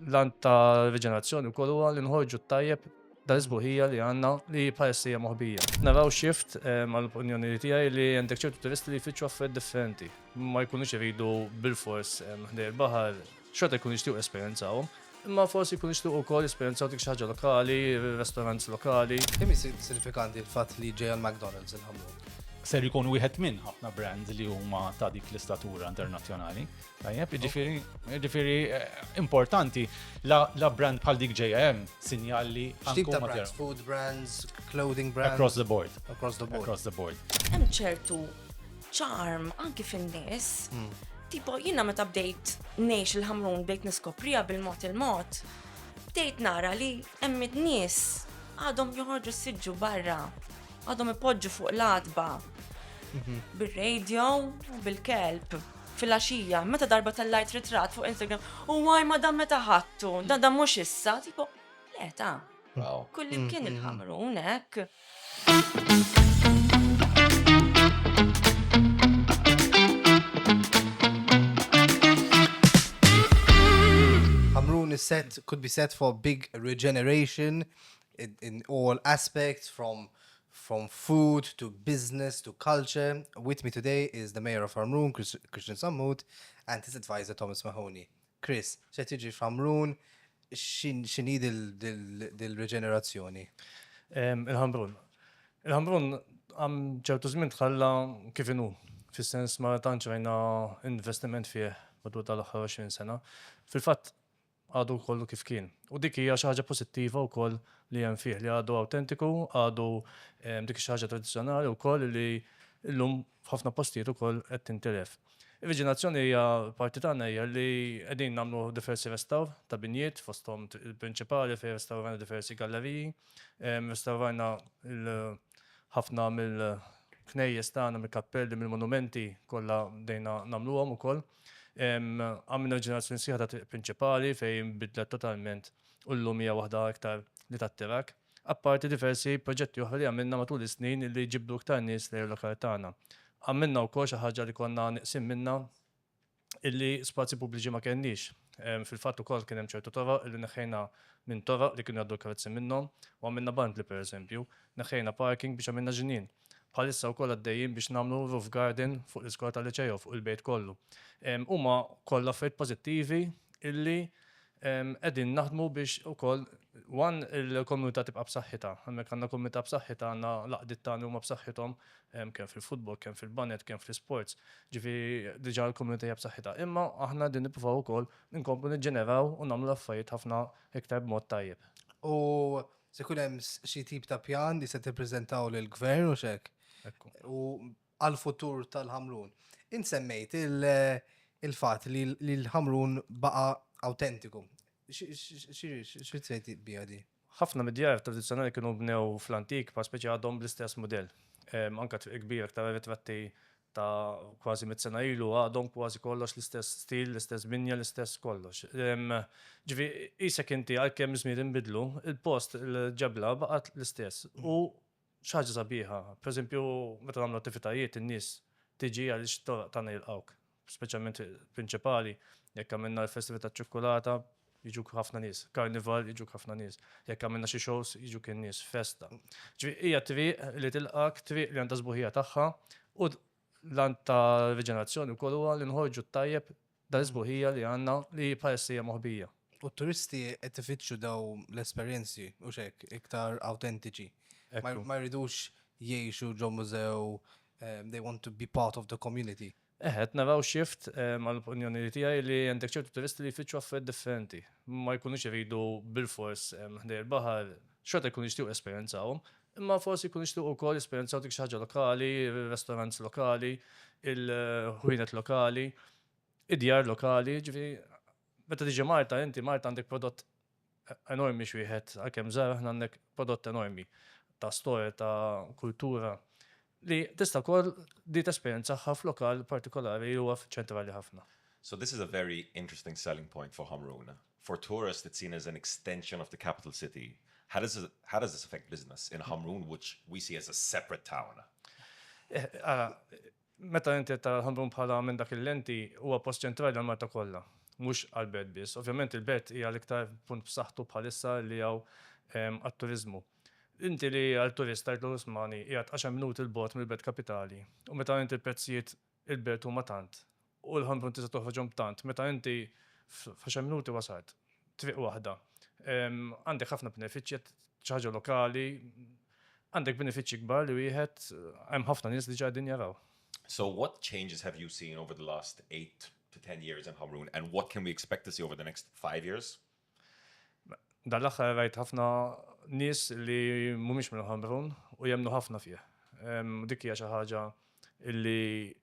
L-għan ta' riġenerazzjoni wkoll huwa li nħorġu t-tajjeb dal-isbuħija li għandna li bħalissa hija moħbija. Naraw shift mal-opinjoni eh, tiegħi li għandek ċertu turisti li jfittxu affarijiet differenti. Ma jkunux iridu bil-fors eh, ħdej il-baħar, xorta jkunu jixtiequ esperjenzawhom. Imma forsi jkunu jixtiequ wkoll esperjenzaw dik xi ħaġa lokali, restaurants lokali. Kemm isir sinifikanti l-fatt li ġejja l-McDonald's il-ħamlu? Ser jkun wieħed minn ħafna brands li huma ta' dik l-istatura internazzjonali. Tajjeb, ġifiri, ġifiri, eh, importanti, la brand bħal dik JM, sinjali. Xtib ta' brands, food brands, clothing brands. Across the board. Across the board. Across the board. Hemm ċertu ċarm anki fin-nies. Hmm. Tipo, jina meta bdejt nejx il-ħamrun bdejt niskoprija bil-mot il-mot, bdejt nara li hemm nies għadhom joħorġu s-sidġu barra, għadhom ipoġġu fuq l-adba, mhm. bil-radio, bil-kelb. Filgħaxija, meta darba tellajt ritratt fuq Instagram, u waj ma dan meta ħadtu, dan dan mhux issa, tipo, le ta. Kullimkien il-Ħamrun hekk. Ħamrun is set, could be set for big regeneration in, in all aspects from From food to business to culture, with me today is the Mayor of Ħamrun, Christian Sammut, and his advisor Thomas Mahoney. Chris, x'qed jiġri f'Ħamrun, x'inhi dil-riġenerazzjoni? Il-Ħamrun. Il-Ħamrun għam ċertu żmien tħalla kif inhu, fis-sens ma tantx rajna investiment fih matul tal-aħħar 20 sena. Fil-fatt, għadu kollu kif kien. U dik hija xi ħaġa pożittiva wkoll li hemm fih, li għadu awtentiku, għadu dik xi ħaġa tradizzjonali wkoll li llum f'ħafna postijiet ukoll qed tintilef. Ir-riġenerazzjoni hija parti tagħna hija li qegħdin nagħmlu diversi restawr ta' binjiet fosthom il-prinċipali fejn restawrajna diversi galleriji, restawrajna ħafna mill-knejjes tagħna, mill-kappelli, mill-monumenti kollha bdejna nagħmluhom ukoll. Għamilna ġenerazzjoni sħiħa ta' triq prinċipali fejn nbidlet totalment u llum hija waħda iktar li tattirak. Apparti diversi proġetti oħra li għamilna matul is-snin li jġibdu iktar nies lejn il-lokal tagħna. Għamilna wkoll xi ħaġa li konna nieqsin minnha illi spazji pubbliċi ma kellniex. Fil-fatt ukoll kien hemm ċertu toroq illi neħħejna minn toroq li kienu jgħaddu l-karozzi minnhom u għamilna bandli pereżempju. Neħħejna parking biex għamilna ġnien. Bħalissa wkoll għaddejjin biex nagħmlu roof garden fuq l-iskola tal-Liċej u fuq il-bejt kollu. Huma kollha affarijiet pożittivi illi qegħdin naħdmu biex ukoll one il-komunità tibqa' b'saħħitha. Hemmhekk għandna komunità b'saħħitha, għandna l-għaqdiet tagħna li huma b'saħħithom kemm fil-futbol, kemm fil-baned, kemm fl-isports. Ġifieri diġà l-komunità hija b'saħħitha. Imma aħna qegħdin nippruvaw ukoll inkomplu niġġeneraw u nagħmlu l-affarijiet ħafna iktar b'mod tajjeb. U Se jkun hemm xi tip ta' pjan li se tippreżentaw lill-Gvern u x'hekk. U għall-futur tal-Ħamrun. Int semmejt il-fatt li l-Ħamrun baqa' awtentiku. Xi tgħid biha di? Ħafna mid-djar tradizzjonali kienu nbnew fl-antik, bħal speċi għadhom bl-istess mudell. Anke Triq il-Kbira aktar arretratti ta' kważi mitt sena ilu għadhom kważi kollox l-istess stil, l-istess binja, l-istess kollox. Ġifi, qisek inti għalkemm iż-żmien inbidlu, il-post, il-ġebla baqgħet l-istess. U xi ħaġa sabiħa, pereżempju meta nagħmlu attivitajiet in-nies tiġi għaliex t-toroq tagħna jilqgħuk, speċjalment prinċipali jekk għamilna l-festival taċ-ċukkulata, jiġuk ħafna nies, karnival jiġuk ħafna nies, jekk għamilna xi shows jiġuk in-nies, festa. Ġifieri hija triq li tilqak, triq li għandha sbuħija tagħha u l-għan ta' riġenerazzjoni wkoll huwa li nħorġu t-tajjeb dan is-sbuħija li għandna li bħalissa hija moħbija. U t-turisti qed ifittxu daw l-esperjenzi u x'hekk iktar awtentiċi. Ma jridux jgħixu ġo mużew, they want to be part of the community. Eħe, qed naraw shift, għall-opinjoni tiegħi, li għandek ċertu turisti li jfittxu affarijiet differenti. Ma jkunux iridu bilfors ħdejn il-baħar, xorta jkunu jixtiequ jesperjenzawhom, imma forsi jkunu jixtiequ wkoll jesperjenzaw dik xi ħaġa lokali, ir-restaurants lokali, il-ħwienet lokali, id-djar lokali. Jiġifieri, meta tiġi Malta inti, Malta għandek prodott enormi x'wieħed għalkemm żgħar aħna hawnhekk prodott enormi ta' storja ta' kultura li tista' wkoll di tesperjenzaha f'lokal partikolari li huwa ċentrali ħafna. So this is a very interesting selling point for Ħamrun. For tourists it's seen as an extension of the capital city. How does how does this affect business in Ħamrun which we see as a separate town? Ara, Meta inti qed tara l-Ħamrun bħala minn dak il-lenti, huwa post ċentrali għall-Malta kollha, mhux għall-Belt biss. Ovvjament il-Belt hija l-iktar punt b'saħħtu bħalissa li hawn għat-turiżmu. Inti li għal turist tgħidlu l-Usmani qiegħed għaxar minuti 'l bogħod mill-Belt Kapitali u meta inti l-prezzijiet il-Belt huma tant u l-Ħamrun tista' toħroġhom b'tant meta inti f'għaxar minuti wasalt, triq waħda, għandek ħafna benefiċċji, xi ħaġa lokali, Għandek benefiċċji kbar li wieħed hemm ħafna nies diġà qegħdin jaraw. So what changes have you seen over the last 8-10 years in Hamrun and what can we expect to see over the next 5 years? Dan l-aħħar rajt ħafna nies li mhumiex minn Ħamrun u jemmnu ħafna fih. Dik hija xi ħaġa li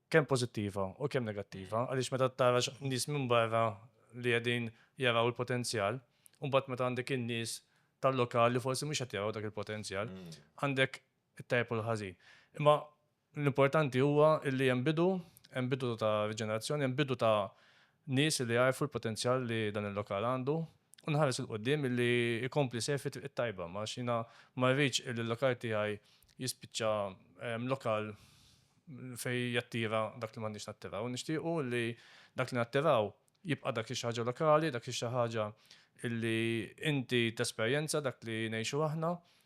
kemm pożittiva u kemm negattiva għaliex meta tara nies minn barra li qegħdin jaraw il-potenzjal u mbagħad meta għandek in-nies tal-lokal li forsi mhux qed jaraw dak il-potenzjal, għandek it-tajjeb u l-ħażin. Imma l-importanti huwa li hemm bidu, hemm bidu ta' riġenerazzjoni, hemm bidu ta' nies illi jagħrfu l-potenzjal li dan il-lokal għandu u nħares 'il quddiem illi jkompli jsejħ fit-triq it-tajba għax jiena ma rridx illi l-lokal tiegħi jispiċċa lokal fejn jattira dak li m'għandniex nattiraw. Nixtiequ illi dak li nattiraw jibqa' dak xi ħaġa lokali, dak xi ħaġa illi inti tesperjenza dak li ngħixu aħna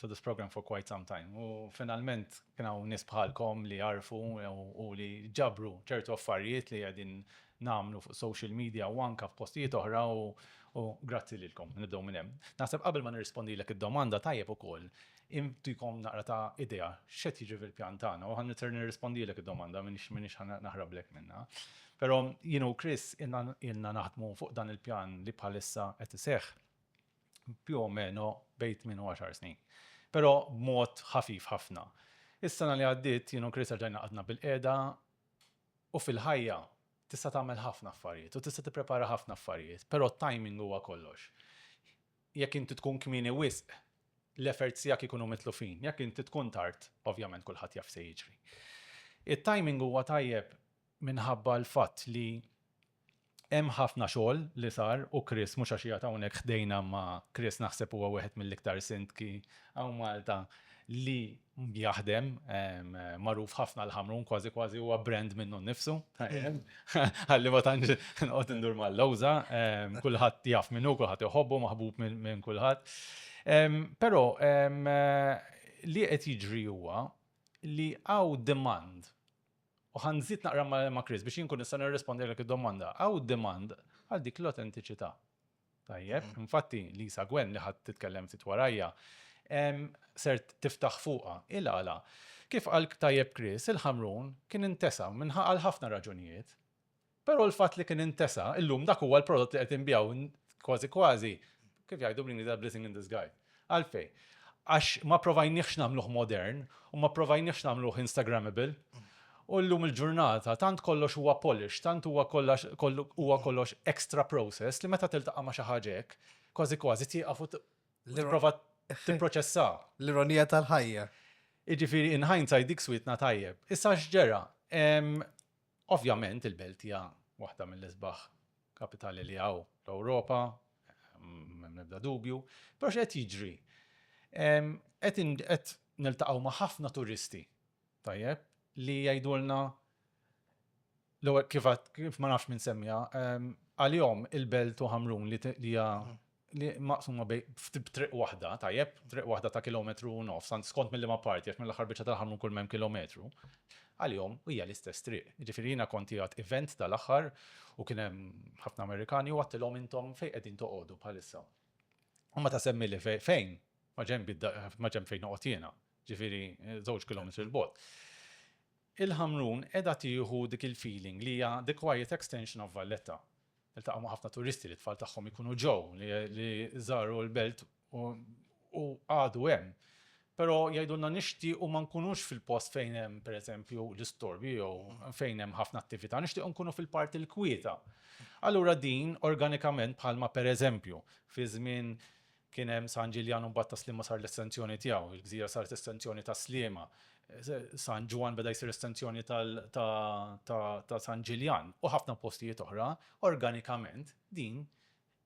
to this programme for quite some time u finalment kien hawn nies bħalkom li jagħrfu u li ġabru ċertu affarijiet li qegħdin nagħmlu fuq social media u anke f'postijiet oħra u u grazzi lilkom nibdew minn hemm. Naħseb qabel ma nirrispondilek id-domanda tajjeb ukoll intikom naqra ta' idea x'qed jiġri fil-pjan tagħna u ħa nitser nirrispondilek id-domanda minix minix ħa naħrablek minnha. Però jien u Chris ilna naħdmu fuq dan il-pjan li bħalissa qed iseħħ più o meno bejn tmien u għaxar snin, però b'mod ħafif ħafna. Is-sena li għaddiet jien u Chris erġajna qgħadna bilqiegħda u fil-ħajja tista' tagħmel ħafna affarijiet u tista' tipprepara ħafna affarijiet, però t-timing huwa kollox. Jekk inti tkun kmieni wisq, l-efforts tiegħek ikunu mitlufin, jekk inti tkun tard, ovvjament kulħadd jaf x'se jiġri. It-timing huwa tajjeb minħabba l-fatt li Hemm ħafna xogħol li sar u Chris mhux għax qiegħed hawnhekk ħdejna imma Chris naħseb huwa wieħed mill-iktar sindki hawn Malta li jaħdem, magħruf ħafna l-Ħamrun kważi kważi huwa brand minnu nnifsu, ħalli ma tantx noqgħod indur mal-lewża, kulħadd jaf min hu, kulħadd iħobbu, maħbub minn kulħadd. Però li qed jiġri huwa li hawn demand U ħa nżid naqra ma' Chris biex jien nkun nista' nirrispondilek id-domanda. Hawn demand għal dik l-awtentiċità. Tajjeb, infatti Lisa Gwen li ħadd titkellem ftit warajja ser tiftaħ fuqha. Il għala? Kif qal tajjeb Chris, il-Ħamrun kien intesa' għal ħafna raġunijiet. Però l-fatt li kien intesa, illum dak huwa l-prodott li qed inbigħu kważi kważi, kif jgħidu bl-Ingliż a blessing in disguise. Għalfejn? Għax ma pprovajniehx nagħmluh modern u ma pprovajniehx nagħmluh instagrammable. U llum il-ġurnata tant kollox huwa polished, tant huwa kollax kollu huwa kollox extra processed li meta tiltaqa' ma' xi ħaġa hekk, kważi kważi tieqaf u tipprova tipproċessha. L-ironija tal-ħajja. Jiġifieri in hindsight dik swietna tajjeb. Issa x'ġera? Ovvjament il-Belt hija waħda mill-isbaħ kapitali li hawn fl-Ewropa, m'hemm l-ebda dubju, però x'qed jiġri? Qed qed niltaqgħu ma' ħafna turisti, tajjeb, li jgħidulna l-ewwel kif għad kif ma nafx min semmiha, għalihom il-Belt u Ħamrun li hija li maqsuma bej, b'triq waħda, tajjeb, triq waħda ta' kilometru u nofs, tant skont mil-liema parti, għax mill-aħħar biċċa tal-aħħar minn kull ma hemm kilometru, għalihom hija l-istess triq. Jiġifieri jiena kont qiegħed event tal-aħħar u kien hemm ħafna Amerikani u għadtilhom intom fejn qegħdin toqogħdu bħalissa? U meta semmili fejn, ma' ġenb fejn noqgħod jiena, jiġifieri żewġ kilometri 'l bogħod. Il-Ħamrun qiegħda tieħu dik il-feeling li hija the quiet extension of Valletta. Niltaqgħu ma' ħafna turisti li t-tfal tagħhom ikunu ġew, li żaru l-belt u għadu hemm. Però jgħidulna nixtiequ ma nkunux fil-post fejn hemm, pereżempju, l-istorbju jew fejn hemm ħafna attività, nixtiequ nkunu fil-parti l-kwieta. Allura din, organikament, bħalma pereżempju fi żmien Kien hemm San Ġiljan u mbagħad ta' Sliema sar l-estenzjoni tiegħu. Il-gżira saret estenzjoni ta' Sliema. San Ġwann beda jsir estenzjoni ta' San Ġiljan u ħafna postijiet oħra. Organikament din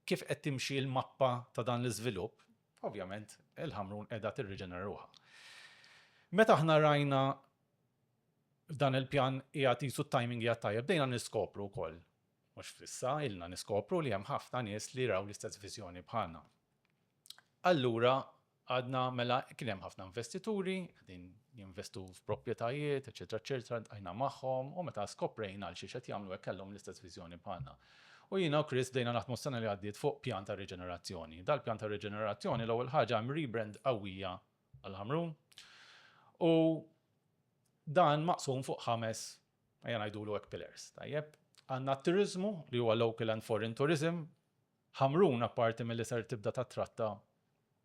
kif qed timxi l-mappa ta' dan l-iżvilupp, ovvjament il-Ħamrun qiegħda tirriġenera ruħha. Meta aħna rajna f'dan il-pjan qiegħed qisu t-timing qiegħed tajjeb bdejna niskopru wkoll Mhux f'issa ilna niskopru li hemm ħafna nies li raw l-istess viżjoni bħalna. Allura għadna mela kien hemm ħafna investituri qegħdin jinvestu f'proprjetajiet, eċċetera eċċetera, ltqajna magħhom u meta skoprejna għalxiex qed jagħmlu hekk kellhom l-istess viżjoni bħalna. U jiena u Chris bdejna naħdmu s-sena li għaddiet fuq pjan ta' riġenerazzjoni. Dal-pjan ta' riġenerazzjoni l-ewwel ħaġa hemm rebrand qawwija għall-Ħamrun u dan maqsum fuq ħames Ejja ngħidulu hekk pillars, tajjeb. Għandna t-turiżmu li huwa local and foreign tourism. Ħamrun apparti milli ser tibda tattratta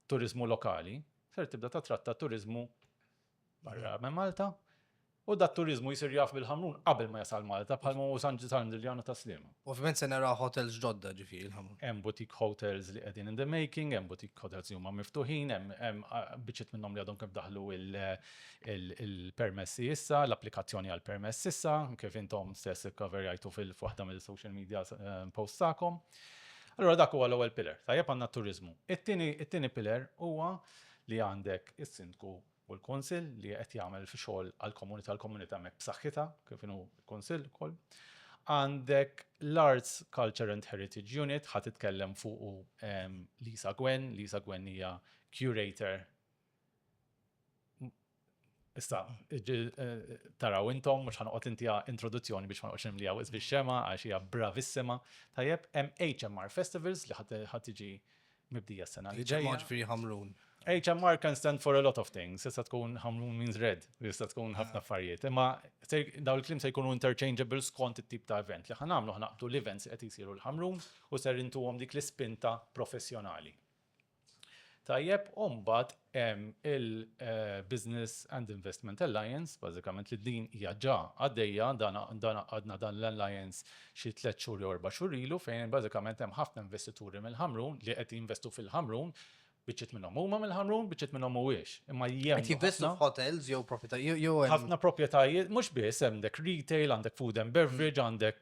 turiżmu lokali, ser tibda tattratta turiżmu barra minn Malta u dat-turiżmu jsir jaf bil-Ħamrun qabel ma jasal Malta bħalma hu San Ġiljan u Tas-Sliema. Ovvjament se naraw hotels ġodda, ġifieri l-ħamur. Hemm boutique hotels li qegħdin in the making, hemm boutique hotels li huma miftuħin, hemm biċċiet minnhom li għadhom kemm daħlu l-permessi issa, l-applikazzjoni għall-permess issa, kif intom stess ikkaverjajtu f'waħda mill-social media posts tagħkom. Allura dak huwa l-ewwel pillar. Tajjeb għandna t-turiżmu. It-tieni pillar huwa li għandek is-Sindku u l-Kunsill li qed jagħmel xogħol għall-komunità, l-komunità hemmhekk b'saħħitha kif inhu l-Kunsill ukoll. Għandek l-Arts, Culture and Heritage Unit, ħa titkellem fuqu Lisa Gwen, Lisa Gwen hija curator Issa, taraw intom, mux ħanqot inti introduzzjoni biex ma nqoċim li għawis biex xema, għax hija bravissima. Tajjeb, hemm HMR Festivals li ħatiġi Mibdija s-sena li ġejja. Ġifieri ħamrun. HMR can stand for a lot of things. Jista tkun ħamrun means red, jista tkun ħafna ah. affarijiet. Imma daw il-klim se jkunu interchangeable skont it-tip ta' event li ħanamlu ħnaqdu l-events qed jisiru l-ħamrun u ser intuhom dik l-ispinta professjonali. Tajjeb, umbat il-Business and Investment Alliance, bażikament li din hija ġa għaddejja, dan għaqqadna dan l-alliance xi tliet xhur jew erba' xhur ilu fejn bażikament hemm ħafna investituri mill-Ħamrun li qed jinvestu fil-Ħamrun, biċċiet minnhom huma mill-Ħamrun, biċċiet minnhom mhuwiex, imma jemmnu ħafna. Qed jinvestu f'hotels jew proprjetajiet jew hemm. Ħafna proprjetajiet, mhux biss, hemm dek retail, għandek food and beverage, għandek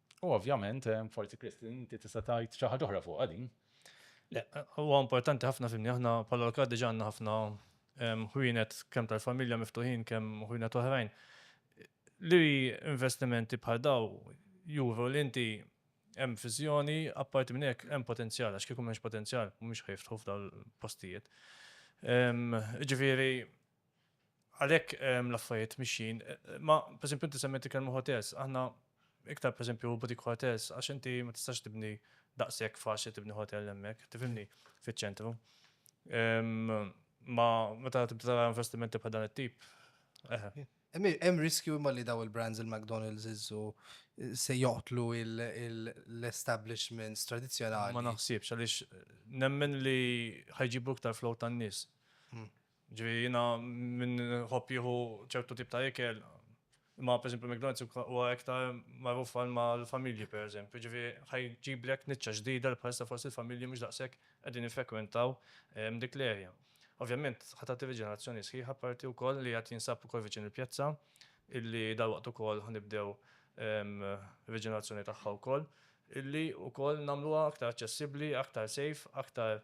U ovvjament, forsi Chris, inti tista' tgħid xi ħaġa oħra fuqha din. Le, huwa importanti ħafna fimni, aħna bħala Lorca diġà għandna ħafna ħwienet kemm tal-familja miftuħin kemm ħwienet oħrajn li investimenti bħal dawn juru li inti hemm viżjoni, apparti minn hekk hemm potenzjal għax kieku m'hemmx potenzjal mhumiex ħa jiftħu f'dawn il-postijiet. Jiġifieri Għalhekk l-affarijiet mixjin, imma pereżempju inti semmejt il-kelma hotels, aħna iktar pereżempju boutique hotels għax inti ma tistax tibni daqshekk faċli tibni hotel hemmhekk, tifhimni, fiċ-ċentru. Imma meta tibda tara investimenti bħal dan it-tip, eħe. Hemm riskju imma li dawn il-brands il-McDonald's, Iżżu, se joqtlu l-establishments tradizzjonali. Ma naħsibx għaliex nemmen li ħa jġibu iktar flow tan-nies. Jiġifieri jiena min iħobb jieħu ċertu tip ta' ikel, imma pereżempju McDonald's huwa iktar magħruf għal mal-familji pereżempju, jiġifieri ħa jġiblek niċċa ġdida li bħalissa forsi l-familji mhux daqshekk qegħdin jiffrekwentaw dik l-area. Ovvjament ħa tagħti riġenerazzjoni sħiħa apparti wkoll li qed jinsab ukoll viċin il-pjazza illi dalwaqt ukoll ħa nibdew riġenerazzjoni tagħha wkoll illi wkoll nagħmluha aktar aċċessibbli, aktar safe, aktar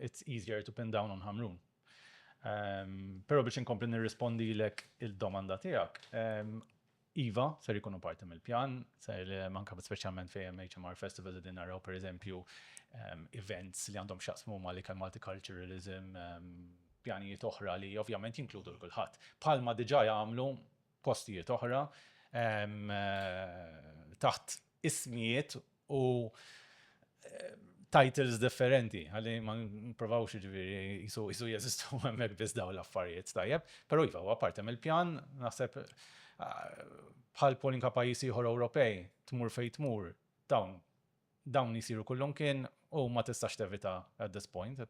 it's easier to pin down on Ħamrun. Però biex inkompli nirrispondilek il-domanda tiegħek, iva, ser ikunu parti mill-pjan, ser manka speċjalment fejn hemm HMR Festival qegħdin naraw pereżempju events li għandhom x'jaqsmu ma' l-ikel multiculturalism, pjanijiet oħra li ovvjament jinkludu l-kulħadd. Bħalma diġà jagħmlu postijiet oħra taħt ismijiet u titles differenti, għalli ma nprovawx ġviri jisu jisu jesistu għemmek biz daw l-affarijiet tajjeb, pero jifa huwa parti mill-pjan, naħseb bħal polinka pajis ieħor Ewropej, tmur fej tmur, dawn dawn jisiru kullum kien u ma tistax tevita at this point,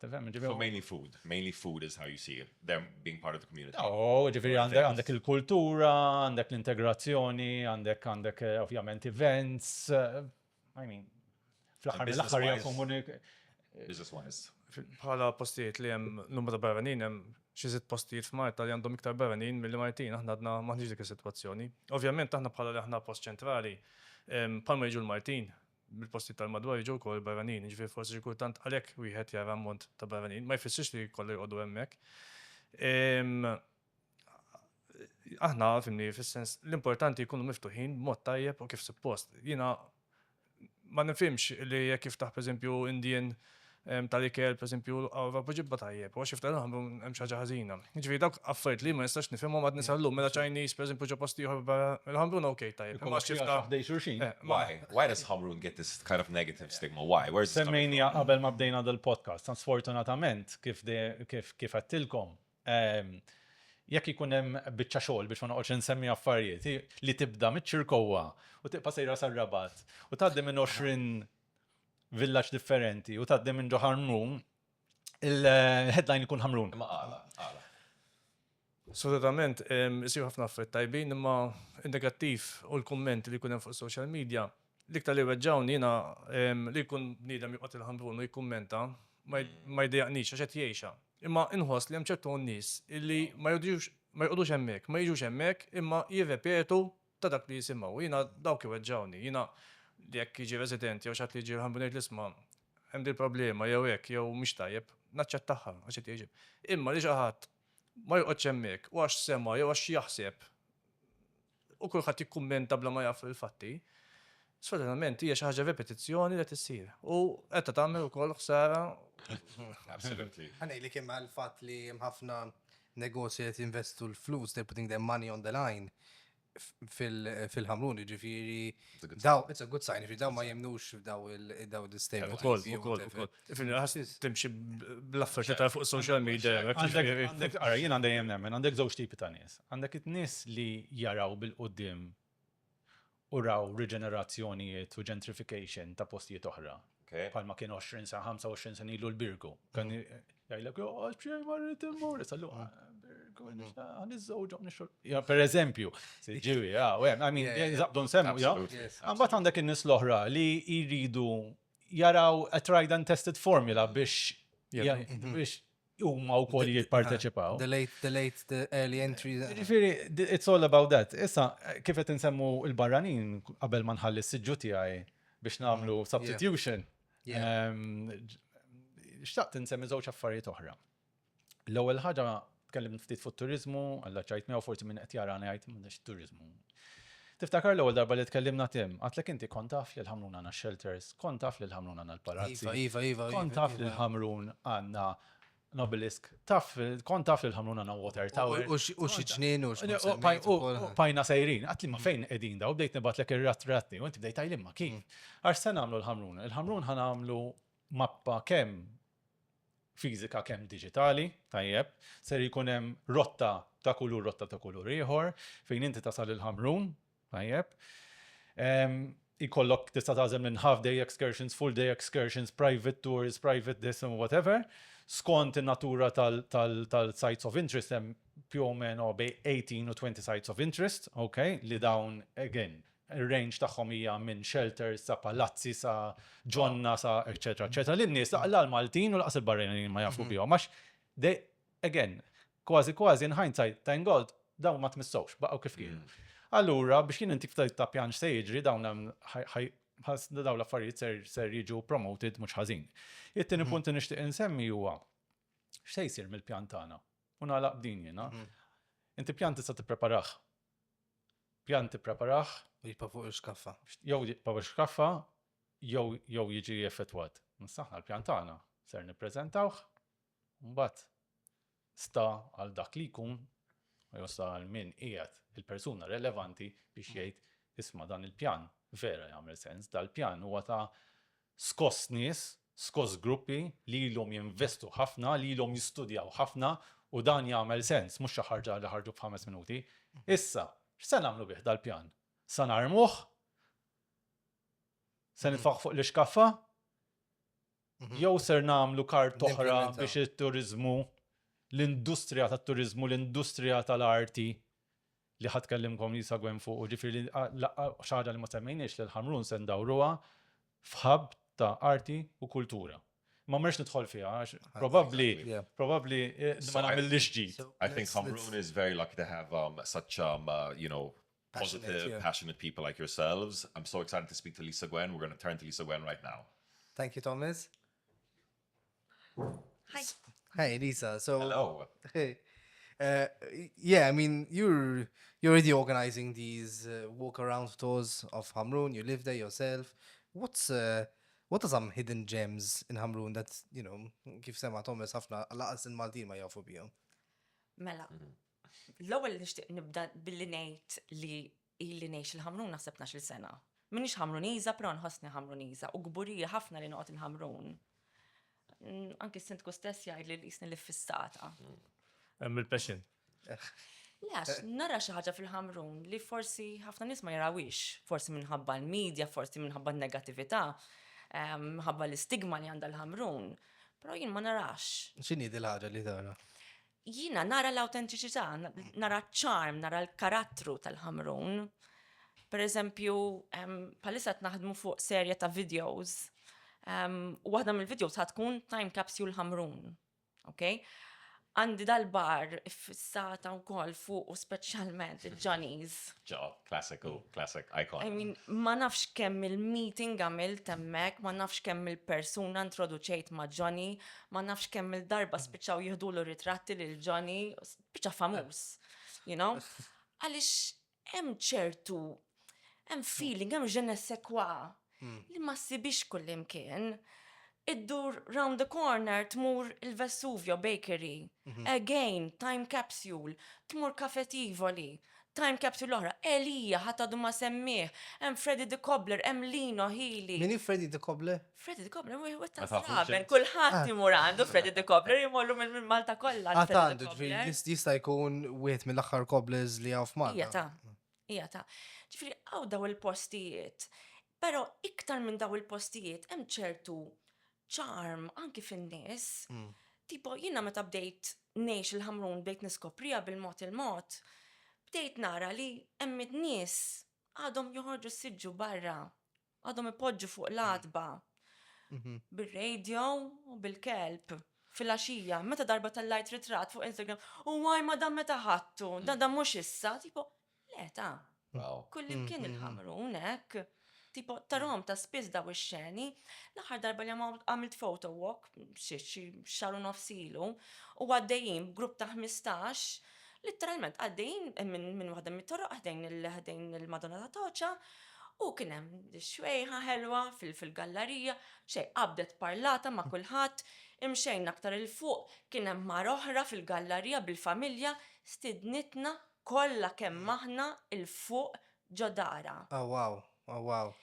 So mainly food, mainly food is how you see it. them being part of the community. Oh, ġifiri għandek il-kultura, għandek l-integrazzjoni, għandek għandek eh, ovvjament events. Eh, I mean, fl-axar mill-axar hija komunik. Business wise. Bħala postijiet li hemm numru ta' barranin hemm xi sitt postijiet f'Marta li għandhom iktar barranin mill Martin, aħna għadna maħniġ dik is-sitwazzjoni. Ovvjament aħna bħala li aħna post ċentrali, palma jiġu l-Martin, mill-postijiet tal-madwar jiġu wkoll barranin, jiġifieri forsi xi kultant għalhekk wieħed jara ammont ta' barranin. Ma jfissirx li kollha jqogħdu hemmhekk. Aħna, fimni, fis-sens, l-importanti jkunu miftuħin b'mod tajjeb u kif suppost. Jiena ma nifhimx li jekk jiftaħ pereżempju Indian tal-ikel, pereżempju, għarfa poġibha tajjeb, għax xi ftit nħammru hemm xi ħaġa ħażina. Jiġifieri dawk affarijiet li ma nistax nifhimhom għadni sal-lum, mela Chinese pereżempju ġo post ieħor barra il-ħamrun okej tajjeb. Imma xi ftit ħdej xulxin. Why? Why does ħamrun get this kind of negative stigma? Why? Where is this coming from? Semmejniha qabel ma bdejna dal-podcast. Tant sfortunatament, kif għedtilkom, jekk ikun hemm biċċa xogħol biex ma noqgħodx insemmi affarijiet, li tibda miċ-Ċirkowwa u tibqa' sejra sar-Rabat u tgħaddi minn 20 villaġġ differenti u tgħaddi minn ġo Ħarnun, il-headline ikun Ħamrun. Ma għala, għala. Assolutament, isir ħafna affarijiet tajbin, imma in-negattiv u l-kumment li jkun hemm fuq social media, l-iktar li weġġawni jiena li jkun bniedem joqgħod il-Ħamrun u jikkummenta ma jdejjaqnix għax qed jgħixha. Imma inħoss li hemm ċertu nies illi ma jqogħdux hemmhekk, ma jiġux hemmhekk imma jirrepetu ta' dak li jisimgħu. Jiena dawk iweġġgħuni. Jiena li jekk jiġi resident jew xi ħadd li jiġi rħanbin u jgħidli isma' hemm din il-problema jew hekk jew mhix tajjeb, naċċettagħha għax qed jgħix. Imma li xi ħadd ma joqgħodx hemmhekk u għax sema' jew għax jaħseb u kulħadd jikkummenta bla ma jaf il-fatti, sfortunatament hija xi ħaġa repetizzjoni li qed issir u qiegħda tagħmel ukoll ħsara. Absolutely. Ħa ngħidlek imma l-fatt li hemm ħafna negozji li qed jinvestu l-flus, they're putting their money on the line fil-ħamrun, jiġifieri daw, it's a good sign, jiġifieri daw ma jemmnux f'daw il-istatement. Ukoll, ukoll, ukoll. Jiġifieri ħass timxi bl-affarijiet li tara fuq social media. Għandek, ara, jien għandi jemmen, għandek żewġ tipi ta' nies. Għandek it-nies li jaraw bil-quddiem u raw riġenerazzjonijiet u gentrification ta' postijiet oħra. Bħalma kien 20 sa 25 sen ilu l-Birgu. Kan jgħidlek joqgħod xejn marrid immur, sa luqa Birgu għan iż-żewġhom nixol. Ja per eżempju, ġiwi, ja, u hemm, I mean, żaqdu nsemmu, ja. Imbagħad għandek in-nies l-oħra li jridu jaraw a tried and tested formula biex biex huma wkoll jipparteċipaw. The late, the late, the early entry. Ġifieri, it's all about that. Issa, kif qed insemmu l-barranin qabel ma nħalli s-siġġu tiegħi biex nagħmlu mm, substitution. Ehm, xtaqt insemmi żewġ affarijiet oħra. L-ewwel ħaġa tkellim ftit fuq turizmu, għalla ċajt miegħu forsi minn qed jara ngħid m'għandix turizmu. Tiftakar l-ewwel darba li tkellimna Tim, għadtlek inti kont taf li l-Ħamrun għandna x-shelters, kont taf li l-Ħamrun għandna l-palazzi, kont taf li l-Ħamrun għandna l-obelisk, taf, kont taf li l-Ħamrun għandna water tower. U xi ġnien u xi ġnien. U bajna sejrin, għadtli ma fejn qegħdin daw, bdejt nibgħatlek ir-ratratti, u inti bdejt tajlim ma kif. Għax se nagħmlu l-Ħamrun, il-Ħamrun ħa nagħmlu mappa kemm fiżika kemm diġitali, tajjeb, ser jkun hemm rotta ta' kulur, rotta ta' kulur ieħor, fejn inti tasal il-Ħamrun, tajjeb, jkollok tista' tagħżel minn half day excursions, full day excursions, private tours, private this and whatever, skont in-natura tal-sites of interest hemm più o meno bejn 18 u 20 sites of interest, okay, li dawn again, ir-range tagħhom hija minn shelters sa palazzi sa ġonna sa eċċetera eċċetera li n-nies la l-Maltin u laqas il-barranin ma jafu bihom għax they again kważi kważi in hindsight thank God dawn ma tmissewx baqgħu kif kienu. Allura biex jien intik ftit ta' pjan x'se jiġri dawn hemm ħaj- ħaj- ħas- dawn l-affarijiet ser- ser jiġu promoted mhux ħażin. It-tieni punt li nixtieq insemmi huwa x'se jsir mill-pjan tagħna u nagħlaq b'din jiena. Inti pjan tista' tippreparah Pjan tippreparah u jibqa' fuq il-xkaffa. Jew jibqa' fuq il-xkaffa jew jew jiġi effettwat. Issa aħna l-pjan tagħna ser nippreżentawh u mbagħad sta għal dak li jkun jew sta għal min qiegħed il-persuna relevanti biex jgħid isma' dan il-pjan vera jagħmel sens, dal-pjan huwa ta' Skost nies, skost gruppi li ilhom jinvestu ħafna, li ilhom jistudjaw ħafna u dan jagħmel sens, mhux xi ħarġa li ħarġu f'ħames minuti. Issa, x'se nagħmlu bih dal-pjan? Se narmuh? Se nitfgħuh fuq l-ixkaffa? Jew ser nagħmlu kart oħra biex it-turiżmu, l-industrija tat-turiżmu, l-industrija tal-arti li ħa tkellimkom li jsegwen fuqu, ġifieri li laqqa' xi ħaġa li ma semmejniex li l-Ħamrun se ndawruha f'hub ta' arti u kultura. Ma mmerx nidħol fiha għax probabbli probabbli ma nagħmillhiex ġid. I think Ħamrun is very lucky to have such you know positive, passionate people like yourselves. I'm so excited to speak to Lisa Gwen, we're going to turn to Lisa Gwen right now. Thank you Thomas. Hi, Lisa. So hello. Hey. Uh, yeah, I mean, you're you're already organizing these uh, walk around tours of Hamrun. You live there yourself. What's uh, what are some hidden gems in Hamrun that you know kif sema Thomas ħafna laqas in Maltin ma jafu bihom? Mela, mm-hmm. l-ewwel nixtieq nibda billi ngħid li Ili ngħix il-Ħamrun naħseb tnax-il sena. M'iniex Ħamruniża però nħossni Ħamruniża u kburija ħafna li noqgħod il-Ħamrun. Anki s-Sindku stess jgħidli li qisni l-iffissata. Hemm il-passion. Le għax nara xi ħaġa fil-Ħamrun li forsi ħafna nies ma jarawhiex, forsi minħabba l-media, forsi minħabba n-negattività, ehm, minħabba l-istigma li għandha l-Ħamrun, però jien ma narax. X'inhi din l-ħaġa li tara? Jiena nara l-awtentiċità, nara ċ-ċarm, nara l-karattru tal-Ħamrun. Per eżempju, palissa qed naħdmu fuq serje ta' videos. U waħda mill-videos ħad tkun Time Capsule Ħamrun. Okay? għandi dal-bar fissata u kol fuq u specialment il-Johnny's. Ġo, klassiku, klassik, icon. I mean, ma nafx kemm il-meeting għamil temmek, ma nafx kemm il-persuna introduċejt ma' Johnny, ma nafx kemm il-darba mm. spiċċaw jihdulu ritratti lil Johnny, spiċċa famuż, you know? Għaliex hemm ċertu, hemm feeling, hemm ġen sekwa mm. li ma ssibix kullimkien. Iddur round the corner tmur il-Vesuvio Bakery, mhm. again, time capsule, tmur kafetivoli, time capsule oħra, Elija ħatadu ma semmiħ, hemm Freddy the Cobbler, hemm Lino Healy. Mini Freddy the Cobbler? Freddy de Cobbler mhuwiex wieħed tal-Fraber, kulħadd imur għandu Freddy de Cobbler jmorru minn Malta kollha. Għad għandu ġifieri jista' jkun wieħed mill-aħħar cobblers li hawn f'Malta. Hija ta' hija ta' ġifieri hawn daw il-postijiet. Però iktar minn daw il-postijiet hemm ċertu ċarm anki fin-nies. Mm. Tipo jiena meta bdejt ngħix il-ħamrun bdejt niskoprija bil-mod il-mod, bdejt nara li hemm nies għadhom joħorġu siġġu barra Għadhom ipoġġu fuq l-għatba bir-radio u bil-kelb fil-għaxija, meta darba tellajt ritratt fuq Instagram, u għaj ma dan meta ħattu, dan dan mhux issa, tipo, le ta' kull imkien il-ħamru hekk. Tipo, tarhom ta' spiss daw ix-xeni, l-aħħar darba li għamilt photo walk, xi xahar u nofs ilu, u għaddejjin b'grupp ta' ħmistax, Litteralment għaddejjin minn waħda mit-toroq ħdejn il-Madonna ta' Toċa u kien hemm xwejħa ħelwa fil-gallarija, xejn, qabdet parlata ma' kulħadd, imxejna aktar 'il fuq kien hemm mara oħra fil-gallarija bil-familja, stiednitna kollha kemm aħna 'il fuq ġo darha. Awwaw, awwaw.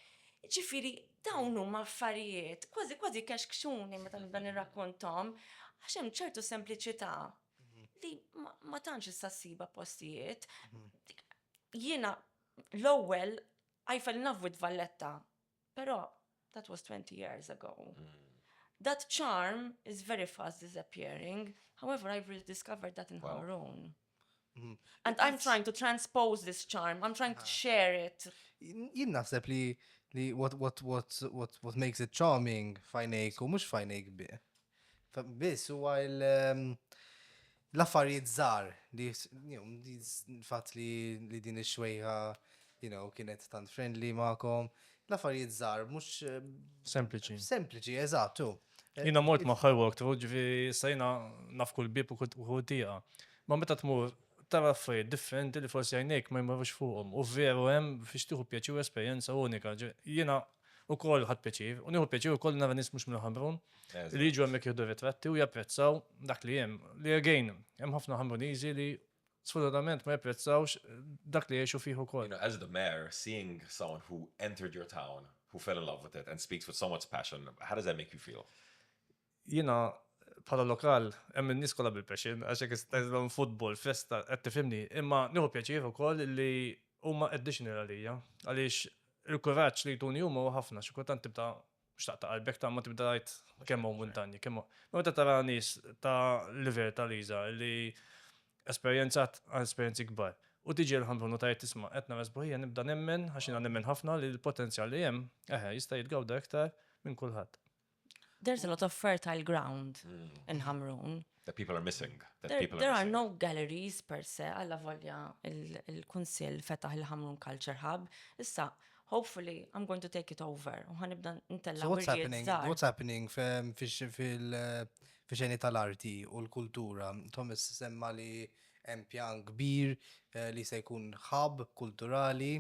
Ġifieri dawn huma affarijiet, kważi kważi jkexkxuni meta nibda nirrakkonthom għax hemm ċertu sempliċità li ma tantx issa ssibha postijiet. Jiena l-ewwel Eiffel Navwit Valletta, però that was 20 years ago. That charm is very fast disappearing, however I've rediscovered that in Hamrun. And I'm trying to transpose this charm, I'm trying to share it. Jien naħseb li what makes it charming fajnejk u mhux fajnejk bih. Biss huwa l-affarijiet żgħar li l-fatt li din ix-xwejħa you know kienet tant friendly magħkom. L-affarijiet żgħar mhux Sempliċi. Sempliċi, eżatt, hu. Jiena mort magħha l-walkthrough, ġifieri issa jiena naf kull bieb u kull tieqa. Imma meta tmur tara affarijiet differenti li forsi għajnejk ma jmorrux fuqhom u veru hemm fiex tieħu pjaċir u esperjenza unika. Jiena Ukoll ħadt pjaċir, u nieħu pjaċir ukoll li nara nies mhux minn Ħamrun li jiġu hemmhekk jieħdu ritratti u japprezzaw dak li hemm. Li again, hemm ħafna Ħamruniżi li sfortunatament ma japprezzawx dak li jgħixu fih ukoll. As the mayor, seeing someone who entered your town, who fell in love with it and speaks with so much passion, how does that make you feel? Jiena bħala lokal hemm in-nies kollha bil-passion għax hekk is-stadium futbol, festa, qed tifhimni, imma nieħu pjaċir ukoll li huma additional għalija għaliex il-kuraġġ li jtuni huma huwa ħafna, xi kultant tibda mhux taqta' qalbek ta' imma tibda tgħid kemm hawn muntanji, kemm hawn. Imma meta tara nies ta' livell ta' Liza li esperjenzat esperjenzi kbar u tiġi għall-Ħamrun u tgħid isma' qed nara sbuħija nibda nemmen, għax jiena nemmen ħafna li l-potenzjal li hemm, eħe, jista' jitgawda iktar minn kulħadd. There is a lot of fertile ground in Ħamrun. That people are missing. There are no galleries per se, alla volja il-Kunsill fetaħ il-Ħamrun Culture Hub. Issa, hopefully, I am going to take it over. U ħanibda ntella' wirjiet żgħar. What's happening fil-xeni tal-arti u l-kultura? Thomas semma li hemm pjan kbir li se jkun hub kulturali.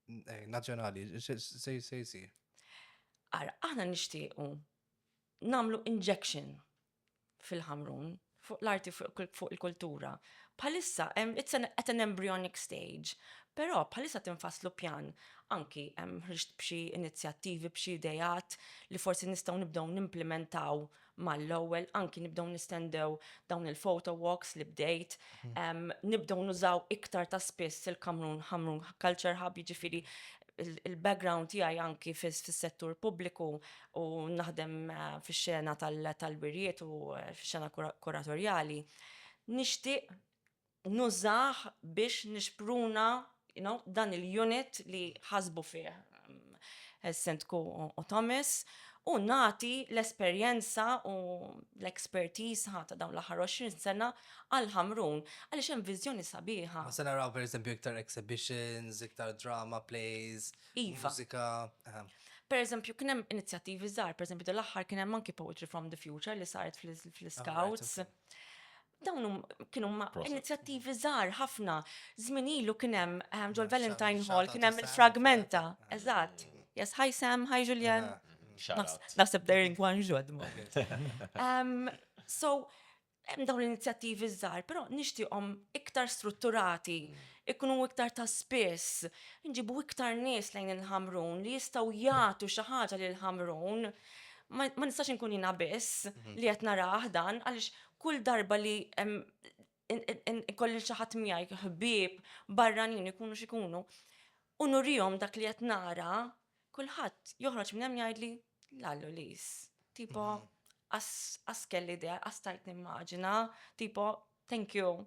Eh, nazzjonali, se jsir. Ara, aħna nixtiequ namlu injection fil-ħamrun fuq l-arti fuq il-kultura. Palissa, it's an, at an embryonic stage, pero palissa tinfaslu pjan anki ħriġt b'xi inizjattivi, b'xi idejat li forsi nistgħu nibdew nimplementaw mal-ewwel anki nibdew nistendew dawn il-photo walks li bdejt, nibdew nużaw iktar ta' spiss il-Kamrun Ħamrun Culture Hub, jiġifieri il-background tiegħi anki fis-settur pubbliku u naħdem fix-xena tal-wirjiet u fix-xena kuratorjali, nixtieq nużah biex nixpruna you know, dan il-unit li ħasbu fih Sindku Otomis u nagħti l-esperjenza u l-expertise ħa ta' dawn l-aħħar 20 sena għal Ħamrun għaliex hemm viżjoni sabiħa. Ma se naraw pereżempju iktar exhibitions, iktar drama plays, iva. mużika. Per eżempju, kien hemm inizjattivi żgħar, per eżempju, dal-aħħar kien hemm anki Poetry from the Future li saret fl-Scouts. Dawn kienu ma' inizjattivi żgħar ħafna. Żmien ilu kien hemm ehm, ġol Valentine Hall kien hemm il-fragmenta. Eżatt. Yes, hi Sam, hi Julian. Naħseb they're in Guangzhou at the moment. Ehm, so, hemm dawn l-inizjattivi żgħar, però nixtieqhom iktar strutturati, ikunu iktar ta' spiss, nġibu iktar nies lejn il-Ħamrun li jistgħu jagħtu xi ħaġa lil Ħamrun. Ma nistax inkun jiena biss mhm. li qed narah dan għaliex Kull darba li ikolli xi ħadd miegħi, ħbieb, barranin ikunu x'ikunu, u nurihom dak li qed nara, kulħadd joħroġ minn hemm jgħidli, la Lulis, tipo qas kelli idea, qas stajt nimmaġina, tipo thank you.